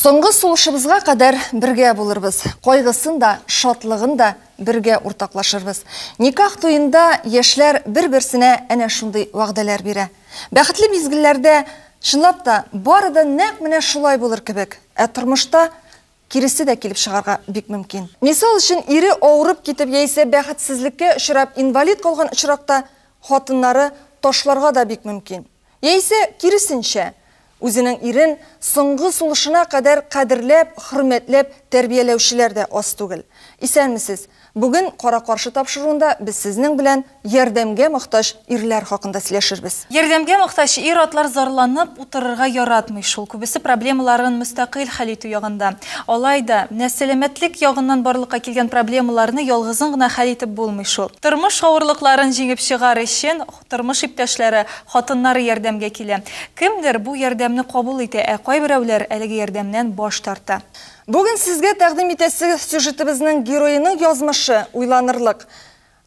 Соңгы сулышыбызга кадәр бергә булырбыз. Кайгысын да, шатлыгын да бергә уртаклашырбыз. Никах туенда яшьләр бер-берсенә әнә шундый вәгъдәләр бирә. Бәхетле мизгелләрдә чынлап та бары да нәкъ менә шулай булыр кебек. Ә тормышта Киресе дә килеп чыгарга бик мөмкин. Мисал өчен, ире авырып китеп яисә бәхетсезлеккә очрап инвалид калган очракта хатыннары ташларга да бик мөмкин. Яисә, киресенчә, үзенең ирен соңгы сулышына кадәр кадерләп, хөрмәтләп тәрбияләүчеләр дә аз түгел. Исәнмесез! Бүген кара-каршы тапшыруында без сезнең белән ярдәмгә мохтаҗ ирләр хакында сөйләшербез. Ярдәмгә мохтаҗ ир-атлар зарланып утырырга яратмый шул, күбесе проблемаларын мөстәкыйль хәл итү ягында. Алай да, менә сәламәтлек ягыннан барлыкка килгән проблемаларны ялгызың гына хәл итеп булмый шул. Тормыш авырлыкларын җиңеп чыгар өчен тормыш иптәшләре, хатыннары ярдәмгә килә. Кемдер бу ярдәмне кабул итә, ә кайберәүләр әлеге ярдәмнән баш тарта. Бүген сезгә тәкъдим итәсе сюжетебезнең героеның язмышы уйланырлык.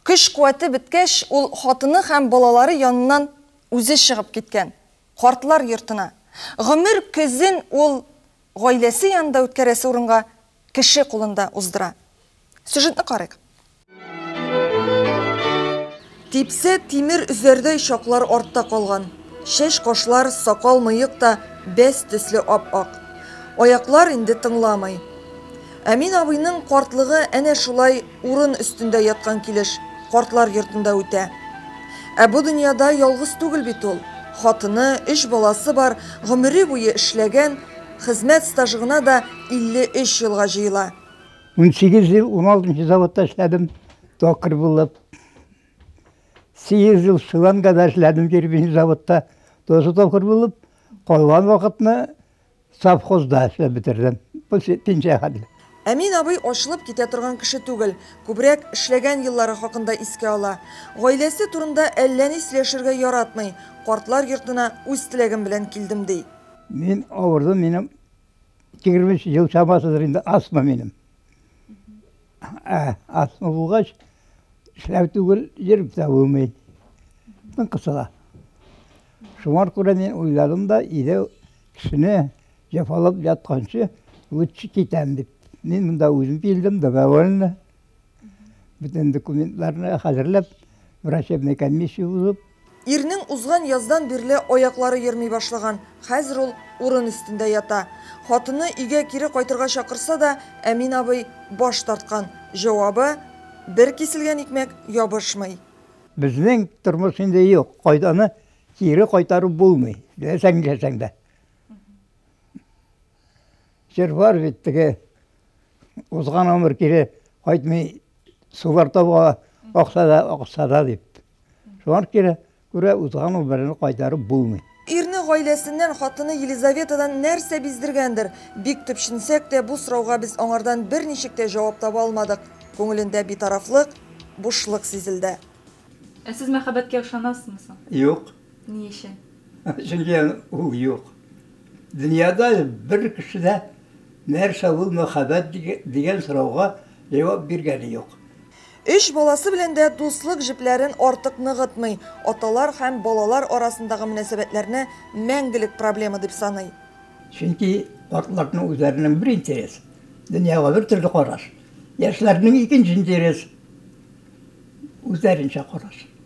Көч-куәте беткәч, ул хатыны һәм балалары яныннан үзе чыгып киткән. Картлар йортына. Гомер көзен ул гаиләсе янында үткәрәсе урынга кеше кулында уздыра. Сюжетны карыйк. Типсә, тимер өзәрдәй чаклар артта калган. Чәч, кашлар, сакал, мыек та бәс төсле ап-ак. Аяклар инде тыңламый. Әмин абыйның картлыгы әнә шулай урын өстендә яткан килеш картлар йортында үтә. Ә бу дөньяда ялгыз түгел бит ул. Хатыны, өч баласы бар, гомере буе эшләгән, хезмәт стажы гына да 53 елга җыела. Унсигез ел уналты заводта эшләдем, токарь булып. Сигез ел Шилангада эшләдем, кирпич заводта, тоже токарь булып. Калган вакытны совхозда эшләп бетердем. Бу пенсия хәтле. Әмин абый ачылып китә торган кеше түгел, күбрәк эшләгән еллары хакында искә ала. Гаиләсе турында әллә ни сөйләшергә яратмый, картлар йортына үз теләгем белән килдем, ди. Мин авырдым, минем Егерме өч ел чамасыдыр инде астма минем. Ә, астма булгач, эшләү түгел, йөреп тә булмый. Тын кысыла. Шуңар күрә мин уйладым да, иде кешене җәфалап ятканчы, лучше китәм дип. Мин монда үзем килдем, добровольно. Бүтән документларны хәзерләп, врачебный комиссия узып. Ирнең узган яздан бирле аяклары йөрми башлаган, хәзер ул урын өстендә ята. Хатыны өйгә кире кайтырга чакырса да, Әмин абый баш тарткан. Җавабы, бер киселгән икмәк ябышмый. Безнең тормыш инде юк, кайданы кире кайтарып булмый, теләсәң-ниләсәң дә. Җыр бар бит теге узган гомер кире кайтмый сулар табуга акса да акса да дип. Шуңа кире күрә узган гомерне кайтарып булмый. Ирне гаиләсеннән, хатыны Елизаветадан нәрсә биздергәндер? Бик төпченсәк тә, бу сорауга без аңардан берничек тә җавап таба алмадык. Күңелендә битарафлык, бушлык сизелде. Ә сез мәхәббәткә ышанасызмы соң? Юк. Ни өчен? Чөнки ул юк. Дөньяда бер кеше дә нәрсә ул мәхәббәт дигән сорауга җавап биргәне юк. Өч баласы белән дә дуслык җепләрен артык ныгытмый, аталар һәм балалар арасындагы мөнәсәбәтләрне мәңгелек проблема дип саный. Чөнки картларның үзләренең бер интерес, дөньяга бер төрле караш, яшьләрнең икенче интерес, үзләренчә караш.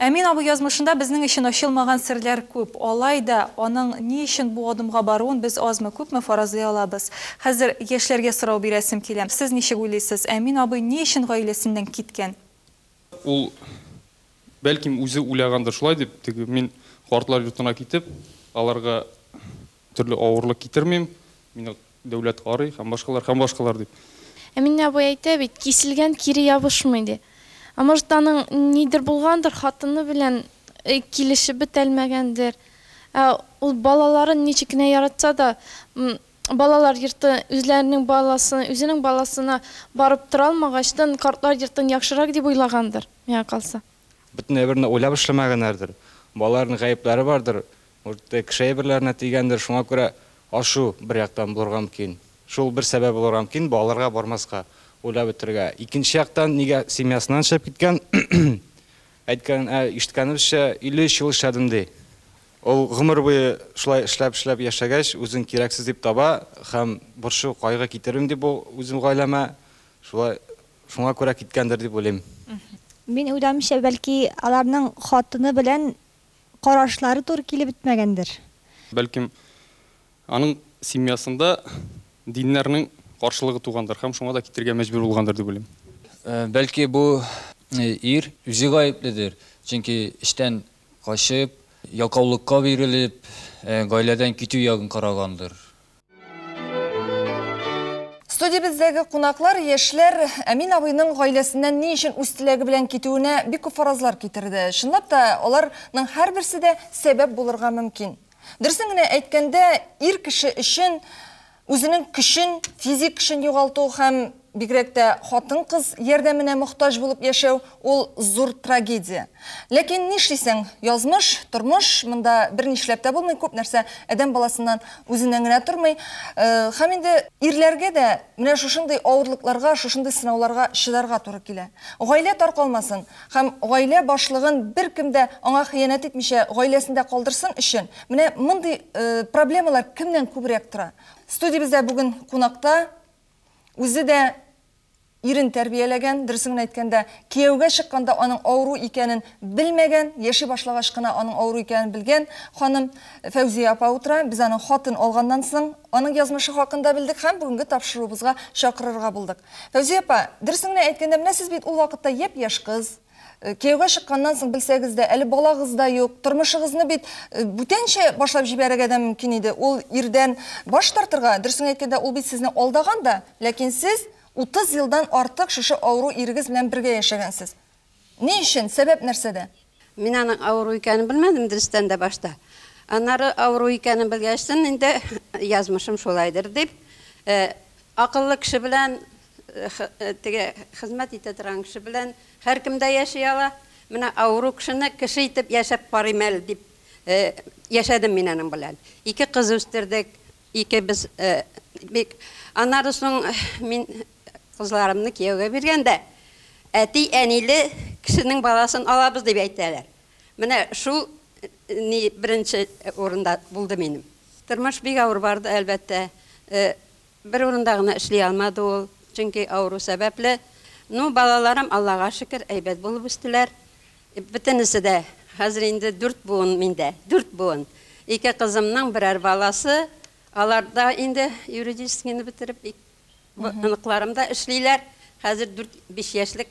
Әмин абый язмышында безнең өчен ачылмаган серләр күп. Алай да, аның ни өчен бу адымга баруын без азмы-күпме фаразлый алабыз. Хәзер яшьләргә сорау бирәсем килә. Сез ничек уйлыйсыз, Әмин абый ни өчен гаиләсеннән киткән? Ул, бәлкем, үзе уйлагандыр шулай дип, теге мин картлар йортына китеп, аларга Төрле авырлык китермим, мине дәүләт карый һәм башкалар, һәм башкалар, дип. Әминә абый әйтә бит, киселгән кире ябышмый, ди. Ә может, аның нидер булгандыр, хатыны белән килешеп бетәлмәгәндер. Ә ул балаларын ничек кенә яратса да, балалар йорты үзләренең баласы, үзенең баласына барып тора алмагач, тын картлар йортын яхшырак дип уйлагандыр, миңа калса. Бөтен әйберне уйлап эшләмәгәннәрдер. Балаларның гаепләре бардыр, Үртек шәйберләренә тигәндер, шуңа күрә ашу бер яктан булырга мөмкин. Шул бер сәбәп булырга мөмкин, балаларга бармаска, уйлап бетерергә. Икенче яктан, нигә семьясыннан чыгып киткән? Әйткән, ә ишеткәнебезчә, 53 ел эшләдем ди. Ул гомер буе шулай эшләп-эшләп яшәгәч, үзен кирәксез дип таба һәм борчу, кайгы китермим дип ул үзем гаиләмә, шулай, шуңа күрә киткәндер дип уйлыйм. Мин уйлавымча, бәлки аларның хатыны белән карашлары туры килеп бетмәгәндер. Бәлкем, аның семьясында диннәрнең каршылыгы тугандыр һәм шуңа да китергә мәҗбүр булгандыр дип уйлыйм. Бәлки, бу ир үзе гаепледер, чөнки эштән качып, ялкаулыкка бирелеп, гаиләдән китү ягын карагандыр. Студиябездәге кунаклар, яшьләр Әмин абыйның гаиләсеннән ни өчен үз теләге белән китүенә бик күп фаразлар китерде. Чынлап та, аларның һәрберсе дә сәбәп булырга мөмкин. Дөресен генә әйткәндә, ир кеше өчен үзенең көчен, физик көчен югалту һәм Бигрәк тә хатын-кыз ярдәменә мохтаҗ булып яшәү, ул зур трагедия. Ләкин нишлисең, язмыш, тормыш, монда бернишләп тә булмый, күп нәрсә адәм баласыннан үзеннән генә тормый. Һәм инде ирләргә дә менә шушындый авырлыкларга, шушындый сынауларга чыдарга туры килә. Гаилә таркалмасын һәм гаилә башлыгын беркем дә аңа хыянәт итмичә гаиләсендә калдырсын өчен, менә мондый проблемалар кемнән күбрәк тора. Студиябездә бүген кунакта. Үзе дә ирен тәрбияләгән, дөресен генә әйткәндә, кияүгә чыкканда аның авыру икәнен белмәгән, яши башлагач кына аның авыру икәнен белгән ханым Фәүзия апа утыра. Без аның хатын алганнан соң аның язмышы хакында белдек һәм бүгенге тапшыруыбызга чакырырга булдык. Фәүзия апа, дөресен генә әйткәндә, менә сез бит ул вакытта япь-яшь кыз. Кияүгә чыкканнан соң белсәгез дә, әле балагыз да юк, тормышыгызны бит бүтәнчә башлап җибәрергә дә мөмкин иде. Ул ирдән баш тартырга, дөресен әйткәндә, ул бит сезне алдаган да, ләкин сез 30 елдан артык шушы авыру ирегез белән бергә яшәгәнсез. Ни өчен, сәбәп нәрсәдә? Мин аның авыру икәнен белмәдем, дөрестән дә, башта. Аннары авыру икәнен белгәчтен инде, язмышым шулайдыр дип, акыллы кеше белән Теге хезмәт итә торган кеше белән һәркем дә яши ала. Менә авыру кешене кеше итеп яшәп карыйм әле дип яшәдем мин аның белән. Ике кыз үстердек, икебез бик. Аннары соң мин кызларымны кияүгә биргәндә, әти-әниле кешенең баласын алабыз дип әйтәләр. Менә шул ни беренче урында булды минем. Тормыш бик авыр барды, әлбәттә. Бер урында гына эшли алмады ул, чөнки авыру сәбәпле. Ну, балаларым, Аллага шөкер, әйбәт булып үстеләр. Бөтенесе дә, хәзер инде дүрт буын миндә, дүрт буын. Ике кызымның берәр баласы, алар да инде юридическийны бетереп, оныкларым да эшлиләр. Хәзер дүрт-биш яшьлек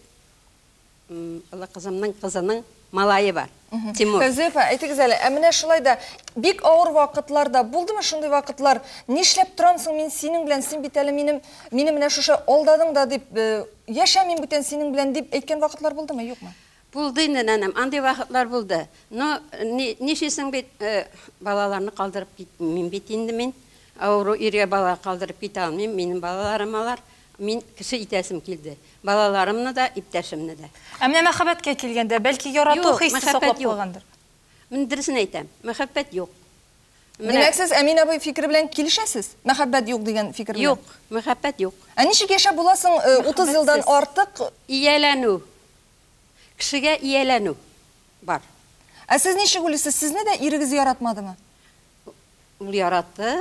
Олы кызымның кызының малае бар. Тимур. Фәзыйфә, әйтегез әле, ә менә шулай да бик авыр вакытлар да булдымы шундый вакытлар? Нишләп торам соң мин синең белән? Син бит әле минем, мине менә шушы алдадың да дип, э, яшәмим бүтән синең белән дип әйткән вакытлар булдымы, юкмы? Булды инде, нәнәм, андый вакытлар булды. Но нишисең бит, э, балаларны калдырып китмим бит инде мин. Авыру иргә бала калдырып китә алмыйм, минем балаларым алар. Мин кеше итәсем килде. Балаларымны да, иптәшемне дә. Ә менә мәхәббәткә килгәндә, бәлки ярату хисе саклап калгандыр? Мин дөресен әйтәм, мәхәббәт юк. Димәк, сез Әмин абый фикере белән килешәсез? Мәхәббәт юк дигән фикер белән? Юк, мәхәббәт юк. Ә ничек яшәп була соң 30 елдан артык? Ияләнү. Кешегә ияләнү бар. Ә сез ничек уйлыйсыз, сезне дә ирегез яратмадымы? Ул яратты.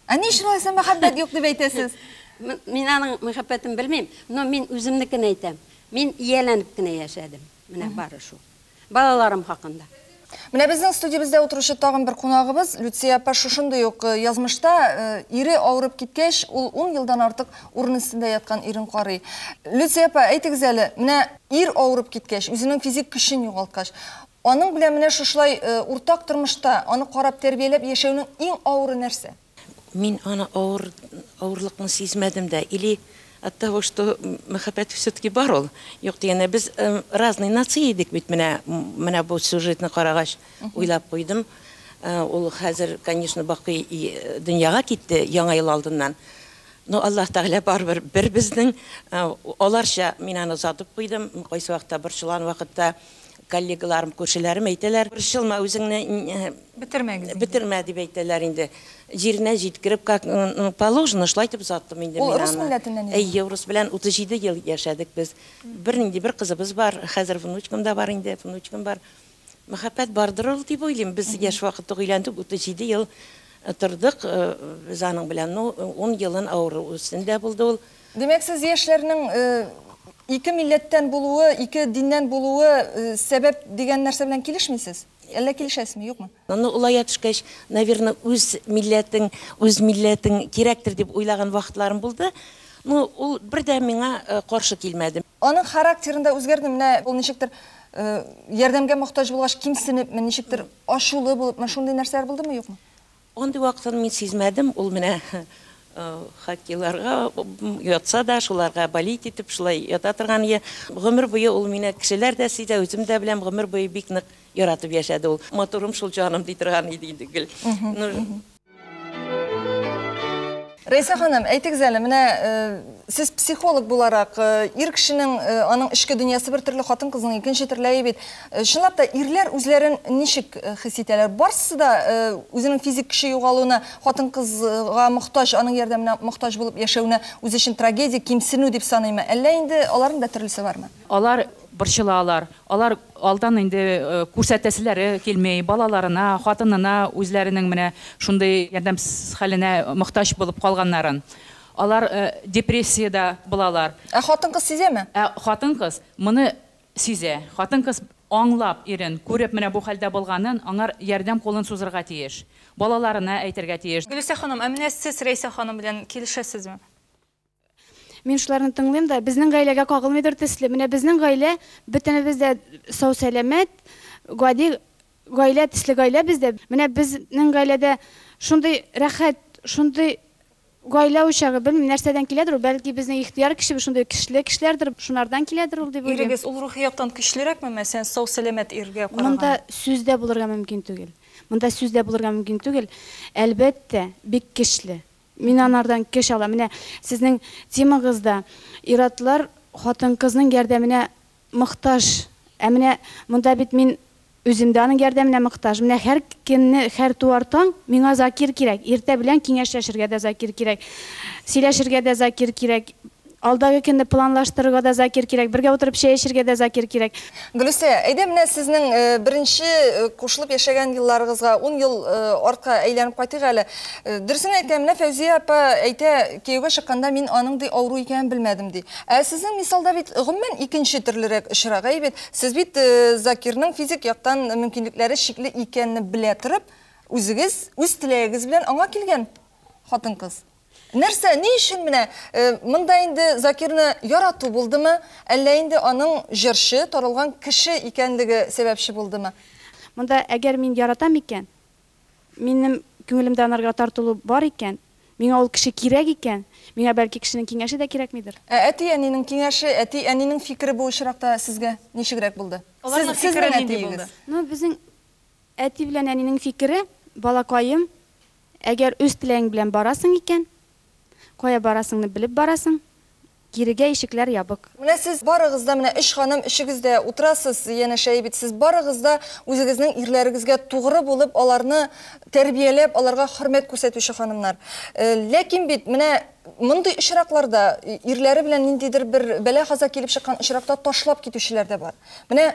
Ә ни өчен алайса мәхәббәт юк дип әйтәсез? Мин аның мәхәббәтен белмим, но мин үземнекен әйтәм. Мин ияләнеп кенә яшәдем. Менә бары шул. Балаларым хакында. Менә безнең студиябездә утыручы тагын бер кунагыбыз Люция апа шушындый ук э, язмышта э, ире авырып киткәч, ул ун елдан артык урын өстендә яткан ирен карый. Люция апа, әйтегез әле, менә ир авырып киткәч, үзенең физик көчен югалткач, Аның белән менә шушылай уртак тормышта, аны карап, тәрбияләп яшәүнең иң авыры нәрсә? Мин аны авыр, авырлыкны сизмәдем дә. Или оттого, что мәхәббәт всё-таки бар ул. Юк дигәндә, без разный нация идек бит, менә, менә бу сюжетны карагач, уйлап куйдым. Ул хәзер, конечно, бакый дөньяга китте, Яңа ел алдыннан. Но Аллаһ Тәгалә барыбер бер безнең. Аларча мин аны озатып куйдым. Кайсы вакытта борчылган вакытта, Коллегаларым, күршеләрем әйтәләр, Борчылма үзеңне, Бетермәгез инде. бетермә, дип әйтәләр инде. Җиренә җиткереп, как положено, шулай итеп озаттым инде мин аны. Ул рус милләтеннән иде. Әйе, урыс белән 37 ел яшәдек без. Бернинди бер кызыбыз бар, хәзер внучкам да бар инде, внучкам бар. Мәхәббәт бардыр ул дип уйлыйм. Без яшь вакыт ук өйләндек, 37 ел тордык без аның белән. Ну, ун елын авыру өстендә булды ул. Димәк, сез яшьләрнең ике милләттән булуы, ике диннән булуы сәбәп дигән нәрсә белән килешмисез? Әллә килешәсезме, юкмы? Ну, олая төшкәч, наверно, үз милләтең, үз милләтең кирәктер дип уйлаган вакытларым булды. Ну, ул бер дә миңа каршы килмәде. Аның характерында үзгәрдеме? Менә ул ничектер ярдәмгә мохтаҗ булгач, кимсенепме, ничектер ачулы булыпмы, шундый нәрсәләр булдымы, юкмы? Андый вакытын мин сизмәдем, ул менә хаккейларга ятса да, шуларга болеть итеп шулай ята торган иде. Гомер буе ул мине кешеләр дә сизә, үзем дә беләм, гомер буе бик нык яратып яшәде ул. Матурым шул, җаным, ди торган иде инде гел. Рәйсә ханым, әйтегез әле, менә сез психолог буларак, ир кешенең аның эчке дөньясы бер төрле, хатын-кызның икенче төрләе бит. Чынлап та ирләр үзләрен ничек хис итәләр? Барсы да үзенең физик көче югалуына, хатын-кызга мохтаҗ, аның ярдәменә мохтаҗ булып яшәвенә үз өчен трагедия, кимсенү дип саныймы? Әллә инде аларның да төрлесе бармы? Алар борчылалар, алар алдан инде күрсәтәселәре килми, балаларына, хатынына үзләренең менә шундый ярдәмсез хәленә мохтаҗ булып калганнарын. Алар депрессиядә булалар. Ә хатын-кыз сизәме? Ә хатын-кыз моны сизә. Хатын-кыз аңлап ирен, күреп менә бу хәлдә булганын, аңар ярдәм кулын сузырга тиеш. Балаларына әйтергә тиеш. Гөлүсә ханым, ә менә сез Рәйсә ханым белән килешәсезме? Мин шуларны тыңлыйм да, безнең гаиләгә кагылмыйдыр төсле. Менә безнең гаилә бөтенебез дә сау-сәламәт, гади гаилә төсле гаилә бездә. Менә безнең гаиләдә шундый рәхәт, шундый гаилә учагы, белмим, нәрсәдән киләдер ул, бәлки безнең ихтыяр кешебез шундый көчле кешеләрдер, шунардан киләдер ул дип уйлыйм. Ирегез ул рухи яктан көчлерәкме мәсәлән сау-сәламәт иргә караганда? Монда сүз дә булырга мөмкин түгел. Монда сүз дә булырга мөмкин түгел. Әлбәттә, бик көчле. Мин анардан көч алам. Менә сезнең темагызда ир-атлар хатын-кызның ярдәменә мохтаҗ. Ә менә монда бит мин үзем дә аның ярдәменә мохтаҗ. Менә һәркемне һәр туар таң миңа Закир кирәк, иртә белән киңәшләшергә дә Закир кирәк, сөйләшергә дә Закир кирәк. Алдагы көнне планлаштырырга да Закир кирәк, бергә утырып чәй эчергә дә Закир кирәк. Гөлүсә, әйдә менә сезнең беренче кушылып яшәгән елларыгызга, ун ел артка әйләнеп кайтыйк әле. Дөресен әйтә, менә Фәүзия апа әйтә, кияүгә чыкканда мин аның, ди, авыру икәнен белмәдем, ди. Ә сезнең мисалда бит гомумән икенче төрлерәк очрак. Әйе бит? Сез бит Закирның физик яктан мөмкинлекләре чикле икәнне белә торып, үзегез, үз теләгегез белән аңа килгән хатын-кыз. Нәрсә, ни өчен менә монда инде Закирны ярату булдымы, әллә инде аның җырчы, таралган кеше икәнлеге сәбәпче булдымы? Монда әгәр мин яратам икән, минем күңелемдә анарга тартылу бар икән, миңа ул кеше кирәк икән, миңа бәлки кешенең киңәше дә кирәкмидер. Ә әти-әнинең киңәше, әти-әнинең фикере бу очракта сезгә ничегрәк булды? Аларның фикере нинди булды? Ну, безнең әти белән әнинең фикере, балакаем, Әгәр үз теләгең белән барасың икән, кая барасыңны белеп барасың, кирегә ишекләр ябык. Менә сез барыгыз да, менә өч ханым өчегез дә утырасыз, янәшәе бит, сез барыгыз да үзегезнең ирләрегезгә тугры булып, аларны тәрбияләп, аларга хөрмәт күрсәтүче ханымнар. Ләкин бит менә мондый очракларда, ирләре белән ниндидер бер бәла-каза килеп чыккан очракта ташлап китүчеләр дә бар. Менә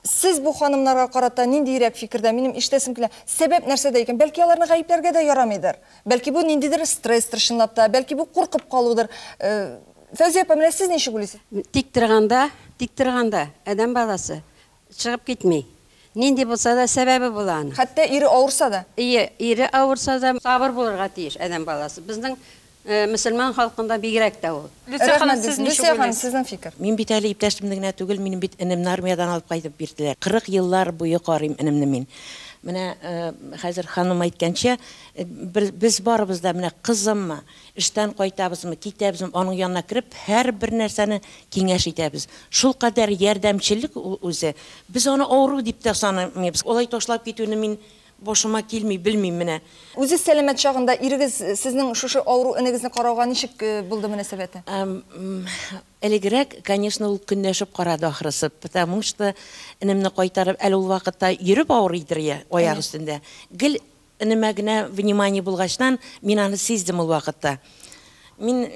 Сез бу ханымнарга карата ниндиерәк фикердә? Минем ишетәсем килә, сәбәп нәрсәдә икән? Бәлки аларны гаепләргә дә ярамыйдыр? Бәлки бу ниндидер стресстер чынлап та, бәлки бу куркып калудыр? Фәүзия апа, менә сез ничек уйлыйсыз? Тик торганда, тик торганда адәм баласы чыгып китми. Нинди булса да сәбәбе була аның. Хәтта ире авырса да. Ие, ире авырса да. Сабыр булырга тиеш адәм баласы. Безнең Э, мөселман халкында бигрәк тә ул. Люция ханым, сез ничек Люция ханым, сезнең фикер? Мин бит әле иптәшемне генә түгел, минем бит энемне армиядән алып кайтып бирделәр. 40 еллар буе карыйм энемне мин. Менә э, хәзер ханым әйткәнчә, э, без барыбыз да менә кызыммы, эштән кайтабызмы, китәбезме, аның янына кереп, һәрбер нәрсәне киңәш итәбез. Шул кадәр ярдәмчеллек ул үзе. Без аны авыру дип тә санамыйбыз. Олай ташлап китүне мин Башыма килми, белмим менә. Үзез сәламәт чагында ирегез сезнең шушы авыру энегезне карауга ничек булды мөнәсәбәте? Элегрәк, конечно, ул көнләшеп карады, ахрысы, потому что энемне кайтарып, әле ул вакытта йөреп авырыйдыр я, аяк өстендә. Гел энемә генә внимание булгачтан, мин аны сиздем ул вакытта. Мин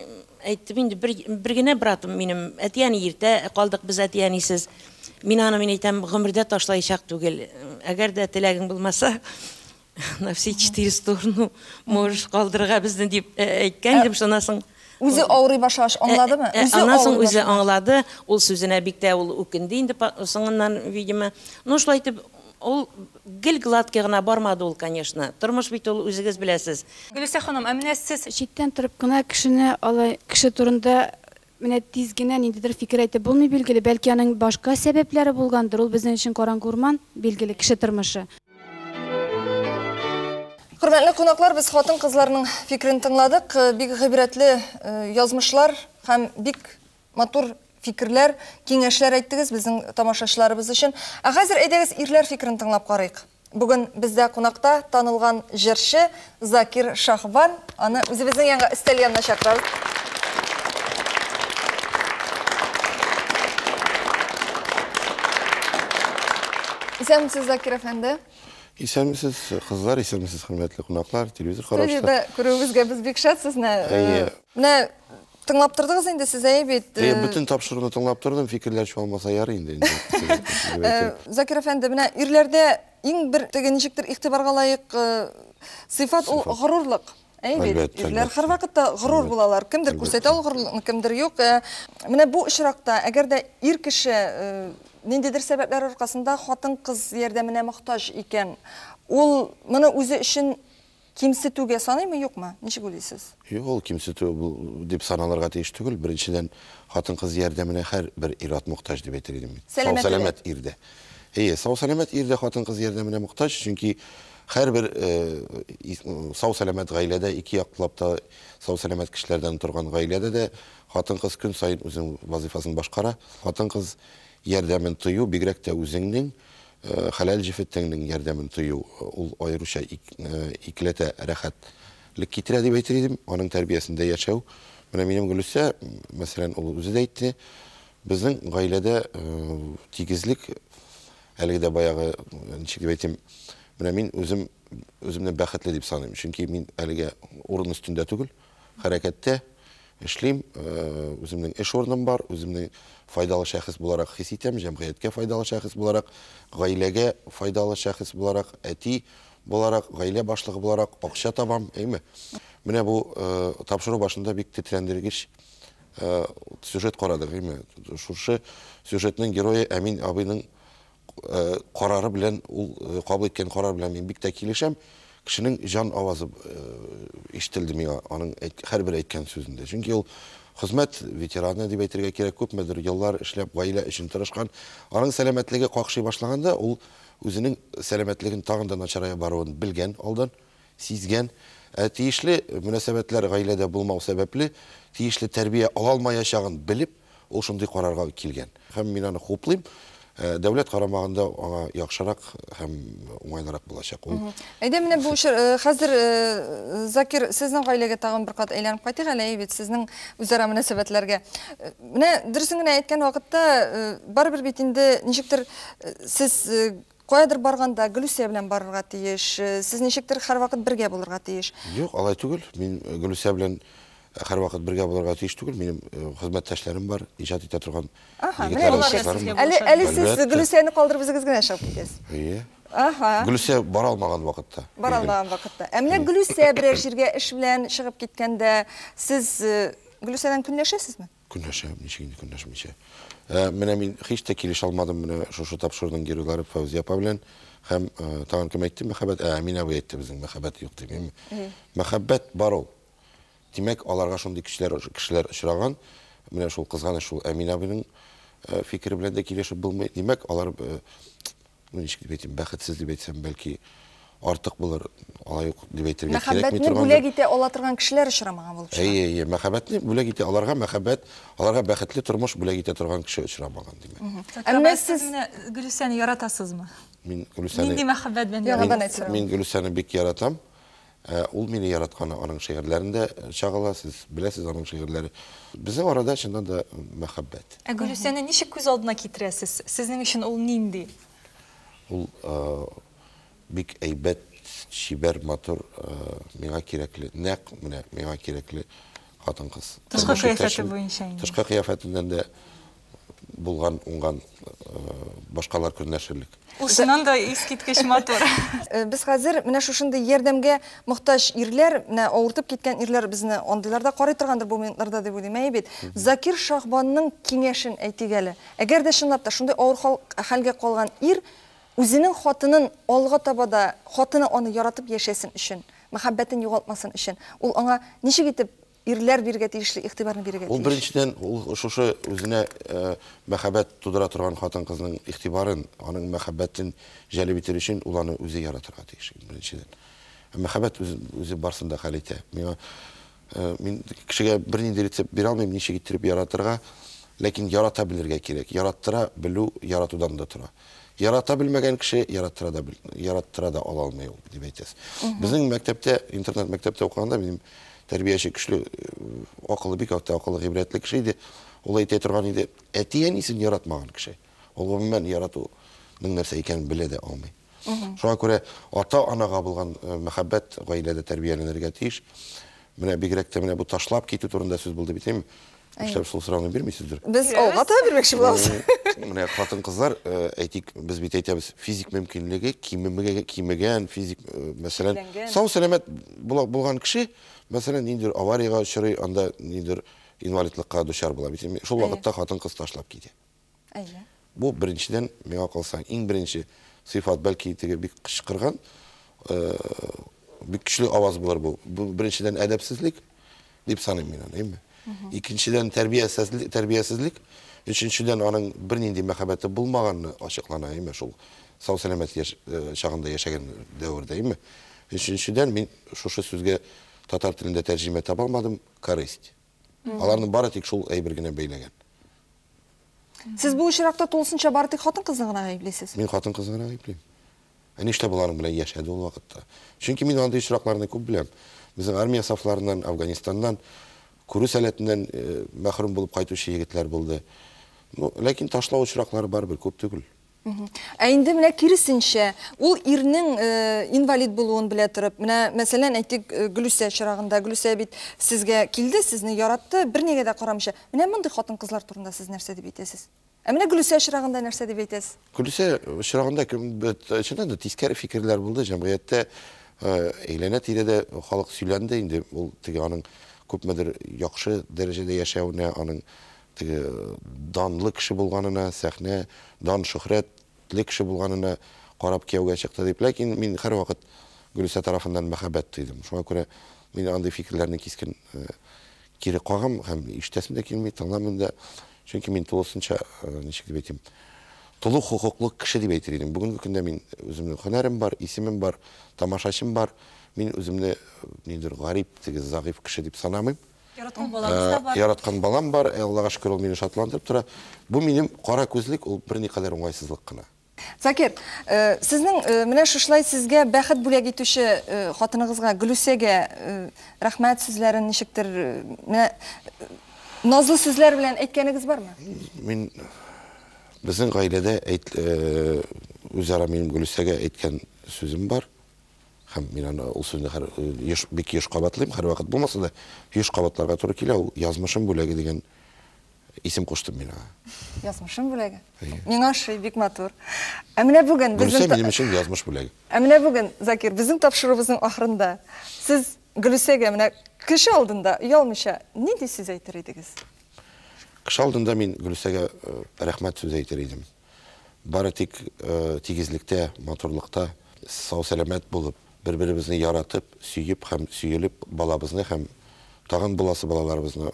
әйттем инде, бер, бер генә братым минем, әти-әни иртә калдык без әти-әнисез. Мин аны мин әйтәм, гомердә ташлаячак түгел. Әгәр дә теләгең булмаса, на все четыре стороны можешь калдырырга безне дип э, әйткән идем, шуннан соң Үзе авырый башлагач аңладымы? Э, э, Үзе Аннан соң авырый үзе башлады. аңлады, ул сүзенә бик тә ул үкенде инде па- соңыннан, видимо. Ну, шулай итеп, Ул гел гладкий гына бармады ул, конечно. Тормыш бит ул, үзегез беләсез. Гөлүсә ханым, ә менә сез? Читтән торып кына кешене алай, кеше турында менә тиз генә ниндидер фикер әйтеп булмый, билгеле. Бәлки аның башка сәбәпләре булгандыр, ул безнең өчен караңгы урман, билгеле, кеше тормышы. Хөрмәтле кунаклар, без хатын-кызларның фикерен тыңладык. Бик гыйбрәтле язмышлар һәм бик Матур фикерләр, киңәшләр әйттегез безнең тамашачыларыбыз өчен. Ә хәзер әйдәгез ирләр фикерен тыңлап карыйк. Бүген бездә кунакта танылган җырчы Закир Шаһбан. Аны үзебезнең янга өстәл янына чакырабыз. Исәнмесез, Закир әфәнде. Исәнмесез, кызлар, исәнмесез, хөрмәтле кунаклар, телевизор караучылар. Студиядә күрүебезгә без бик шат сезне. Әйе. Менә Тыңлап тордыгыз инде сез әй бит. Э, бөтен тапшыруны тыңлап тордым, фикерләр чуалмаса ярый инде. Э, Закир әфәнде, менә ирләрдә иң бер теге ничектер игътибарга лаек э, сыйфат ул горурлык. Әй бит, ирләр һәрвакытта горур булалар. Кемдер күрсәтә ул горурлыкны, кемдер юк. Менә бу очракта, әгәр дә ир кеше ниндидер сәбәпләр аркасында хатын-кыз ярдәменә мохтаҗ икән, ул моны үзе өчен Кимсетүгә саныймы, юкмы? Ничек уйлыйсыз? Юк, ул кимсетү дип саналырга тиеш түгел. Беренчедән, хатын-кыз ярдәменә һәрбер ир-ат мохтаҗ дип әйтер идем мин. Сау-сәламәт ир дә. Әйе, сау-сәламәт ир дә хатын-кыз ярдәменә мохтаҗ, чөнки һәрбер сау-сәламәт гаиләдә, ике яклап та сау-сәламәт кешеләрдән торган гаиләдә дә хатын-кыз көн саен үзенең вазыйфасын башкара. Хатын-кыз ярдәмен тою, бигрәк тә үзеңнең Хәләл җефет тәннең ярдәмен тою, ул аеруча икеләтә рәхәтлек китерә дип әйтер идем. Аның тәрбиясендә яшәү. Менә минем Гөлүсә, мәсәлән, ул үзе дә әйтте, безнең гаиләдә тигезлек, әлеге дә баягы, ничек дип әйтим, менә мин үзем, үземне бәхетле дип саныйм, чөнки мин әлегә урын өстендә түгел. хәрәкәттә эшлим, үземнең эш урыным бар, үземне файдалы шәхес буларак хис итәм, җәмгыятькә файдалы шәхес буларак, гаиләгә файдалы шәхес буларак, әти буларак, гаилә башлыгы буларак акча табам, әйме? Менә бу тапшыру башында бик тетрәндергеч сюжет карадык, әйме? Шушы сюжетның герое Әмин абыйның карары белән ул кабул иткән карар белән мин бик тә килешәм кешенең җан авазы ишетелде миңа аның һәрбер әйткән сүзендә чөнки ул хезмәт ветераны дип әйтергә кирәк күпмедер еллар эшләп гаилә өчен тырышкан аның сәламәтлеге какшый башлаганда ул үзенең сәламәтлеген тагын да начарая баруын белгән алдан сизгән ә тиешле мөнәсәбәтләр гаиләдә булмау сәбәпле тиешле тәрбия ала алмаячагын белеп Ул шундый карарга килгән. Һәм мин аны хуплыйм. Э, дәүләт карамагында аңа яхшырак һәм уңайлырак булачак. Ул Әйдә менә бу чор э, хәзер э, Закир сезнең гаиләгә тагын бер кат әйләнеп кайтыйк әле бит сезнең үзара мөнәсәбәтләргә. Менә дөресен генә әйткән вакытта барыбер бит инде ничектер сез Каядыр барганда Гөлүсә белән барырга тиеш. Сез ничектер һәрвакыт бергә булырга тиеш. Юк, алай түгел. Мин Гөлүсә белән һәрвакыт бергә булырга тиеш түгел. Минем хезмәттәшләрем бар, иҗат итә торган егетләрем, кызларым. Әһә, менә алар да сезгә булышырга тиеш. Әле, әле сез Гөлүсәне калдырып үзегез генә чыгып китәсез. Әйе. Әһә. Гөлүсә бара алмаган вакытта. Бара алмаган вакытта. Ә менә Гөлүсә берәр җиргә эш белән чыгып киткәндә, сез Гөлүсәдән көнләшәсезме? Көнләшәм, ничек инде көнләшмичә. Ә, менә мин һич тә килешә алмадым менә шушы тапшыруның геройлары Фәүзия апа белән һәм э, тагын кем әйтте мәхәббәт? Ә, Әмин абый әйтте безнең мәхәббәт юк дип. М- Мәхәббәт бар ул. Димәк, аларга шундый кешеләр кешеләр очраган. Менә шул кызганыч шул Әмин абыйның э, фикере белән дә килешеп булмый. Димәк, алар э, Ну, ничек дип әйтим, бәхетсез дип әйтсәм, бәлки артык булыр, алай юк дип әйтергә кирәкми торган. Мәхәббәтне бүләк итә ала торган кешеләр очрамаган булып чыга. Әйе, әйе, мәхәббәтне бүләк итә аларга мәхәббәт, аларга бәхетле тормыш бүләк итә торган кеше очрамаган, димәк. Әмма сез менә Гөлүсәне яратасызмы? Мин Гөлүсәне Нинди мәхәббәт белән яратасыз? Мин Гөлүсәне бик яратам. Ә ул мине яратканы аның шигырьләрендә чагыла, сез беләсез аның шигырьләре. Безнең арада чыннан да мәхәббәт. Ә Гөлүсәне ничек күз алдына китерәсез? Сезнең өчен ул нинди? Ул бик әйбәт, чибәр, матур, миңа кирәкле, нәкъ менә миңа кирәкле хатын-кыз. Тышкы кыяфәте буенча инде. Тышкы кыяфәтеннән дә булган, уңган башкалар көнләшерлек. Ул чыннан да искиткеч матур. Без хәзер менә шушындый ярдәмгә мохтаҗ ирләр, менә авыртып киткән ирләр безне андыйлар да карый торгандыр бу минутларда дип уйлыйм. Әйе бит? Закир Шаһбанның киңәшен әйтик әле. Әгәр дә чынлап та шундый авыр хәлгә калган ир үзенең хатынын алга таба да, хатыны аны яратып яшәсен өчен, мәхәббәтен югалтмасын өчен, ул аңа ничек итеп Ирләр бирергә тиешле игътибарны бирергә тиеш. Ул беренчедән ул шушы үзенә мәхәббәт тудыра торган хатын-кызның игътибарын, аның мәхәббәтен җәлеп итер өчен ул аны үзе яратырга тиеш беренчедән. Ә мәхәббәт үзе, үзе барсын да хәл итә. Миңа мин кешегә бернинди рецепт бирә алмыйм, ничек иттереп яратырга, ләкин ярата белергә кирәк. Яраттыра белү яратудан да тора. Ярата белмәгән кеше яраттыра да, яраттыра да ала алмый ул, дип әйтәс. Безнең мәктәптә, интернет мәктәптә укыганда, минем тәрбияче көчле, акылы бик акты, акылы гыйбрәтле кеше иде. Ул әйтә торган иде, әти әнисен яратмаган кеше. Ул гомумән яратуның нәрсә икәнен белә дә алмый. Шуңа күрә ата-анага булган э, мәхәббәт гаиләдә тәрбияләнергә тиеш. Менә бигрәк тә менә бу ташлап китү турында сүз булды бит, Нишләп шул сорауны бирмисездер? Без алга таба бирмәкче булабыз. Менә хатын-кызлар, э, әйтик, без бит әйтәбез, физик мөмкинлеге кимемеге кимегән, физик, э, мәсәлән, сау сәламәт булган кеше, мәсәлән, ниндер аварияга очрый, анда ниндер инвалидлыкка дучар була. Бит шул вакытта хатын-кыз ташлап китә. Әйе. Бу беренчедән, миңа калса, иң беренче сыйфат, бәлки теге бик кычкырган, э, бик көчле аваз булыр бу. Бу беренчедән әдәпсезлек дип саныйм мин аны, әйме? Икенчедән тәрбиясезлек, тәрбиясезлек, өченчедән аның бернинди мәхәббәте булмаганны ачыклана, әйме, шул сау сәламәт яшь, э, чагында яшәгән дәвердә, әйме? Өченчедән мин шушы сүзгә татар телендә тәрҗемә таба алмадым, корысть. Аларны бары тик шул әйбер генә бәйләгән. Сез бу очракта тулысынча бары тик хатын-кызны гына гаеплисез? Мин хатын-кызны гына гаеплим. Ә ништә боларның белән яшәде ул вакытта? Чөнки мин андый очракларны күп беләм. Безнең армия сафларыннан, Афганистаннан күрү сәләтеннән э, мәхрүм булып кайтучы егетләр булды. Ну, ләкин ташлау очраклары барыбер күп түгел. Ә инде менә киресенчә, ул ирнең э, инвалид булуын белә торып, менә мәсәлән, әйтик, э, Гөлүсә чырагында, Гөлүсә бит сезгә килде, сезне яратты, бернигә дә карамыйча. Менә мондый хатын-кызлар турында сез нәрсә дип әйтәсез? Ә менә Гөлүсә чырагында нәрсә дип әйтәсез? Гөлүсә чырагында чыннан да тискәре фикерләр булды җәмгыятьтә, э, әйләнә-тирәдә халык сөйләнде инде, ул теге аның күпмедер яхшы дәрәҗәдә яшәвенә, аның Теге данлы кеше булганына, сәхнә, дан, шөхрәт, ле кеше булганына карап кияүгә чыкты дип. Ләкин мин һәрвакыт Гөлүсә тарафыннан мәхәббәт тойдым. Шуңа күрә мин андый фикерләрне кискен кире кагам һәм ишетәсем дә килми, тыңламыйм да. Чөнки мин тулысынча, ничек дип әйтим, тулы хокуклы кеше дип әйтер идем. Бүгенге көндә мин үземнең һөнәрем бар, исемем бар, тамашачым бар. Мин үземне ниндидер гарип, теге зәгыйфь кеше дип санамыйм. Яраткан балагыз да бар. Яраткан балам бар, Аллага шөкер, ул мине шатландырып тора. Бу минем кара күзлек, ул берникадәр уңайсызлык кына. Закир, э, сезнең э, менә шушылай сезгә бәхет бүләк итүче э, хатыныгызга Гөлүсәгә рәхмәт сүзләрен ничектер менә назлы сүзләр белән әйткәнегез бармы? Мин безнең гаиләдә үзара минем Гөлүсәгә әйткән сүзем бар. Һәм мин аны ул сүзне хәр, еш, бик еш кабатлыйм, һәрвакыт булмаса да, еш кабатларга туры килә, ул язмышым бүләге дигән исем куштым мин аңа. Язмышым бүләге. Әйе. Миңа ошый, бик матур. Ә менә бүген Гөлүсә безнең та- минем өчен язмыш бүләге. Ә менә бүген, Закир, безнең тапшыруыбызның ахырында сез Гөлүсәгә менә кеше алдында, оялмыйча, нинди сүз әйтер идегез? Кеше алдында мин Гөлүсәгә э, рәхмәт сүзе әйтер идем. Бары тик тигезлектә, матурлыкта, сау-сәламәт булып, бер-беребезне яратып, сөеп һәм сөелеп, балабызны һәм тагын буласы балаларыбызны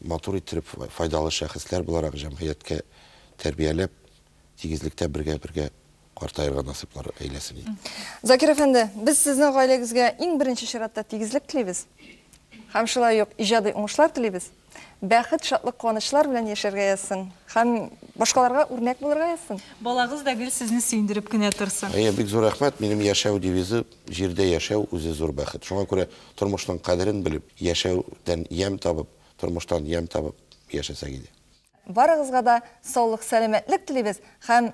матур иттереп, файдалы шәхесләр буларак җәмгыятькә тәрбияләп, тигезлектә бергә-бергә картаерга насыйплар әйләсен иде. Закир әфәнде, без сезнең гаиләгезгә иң беренче чиратта тигезлек телибез һәм шулай ук иҗади уңышлар телибез. Бәхет, шатлык, куанычлар белән яшәргә язсын һәм башкаларга үрнәк булырга язсын. Балагыз да гел сезне сөендереп кенә торсын. Әйе, бик зур рәхмәт. Минем яшәү девизы, Җирдә яшәү, үзе зур бәхет. Шуңа күрә тормышның кадерен белеп, яшәүдән ямь табып, тормыштан ямь табып яшәсәк иде. Барыгызга да саулык-сәламәтлек телибез һәм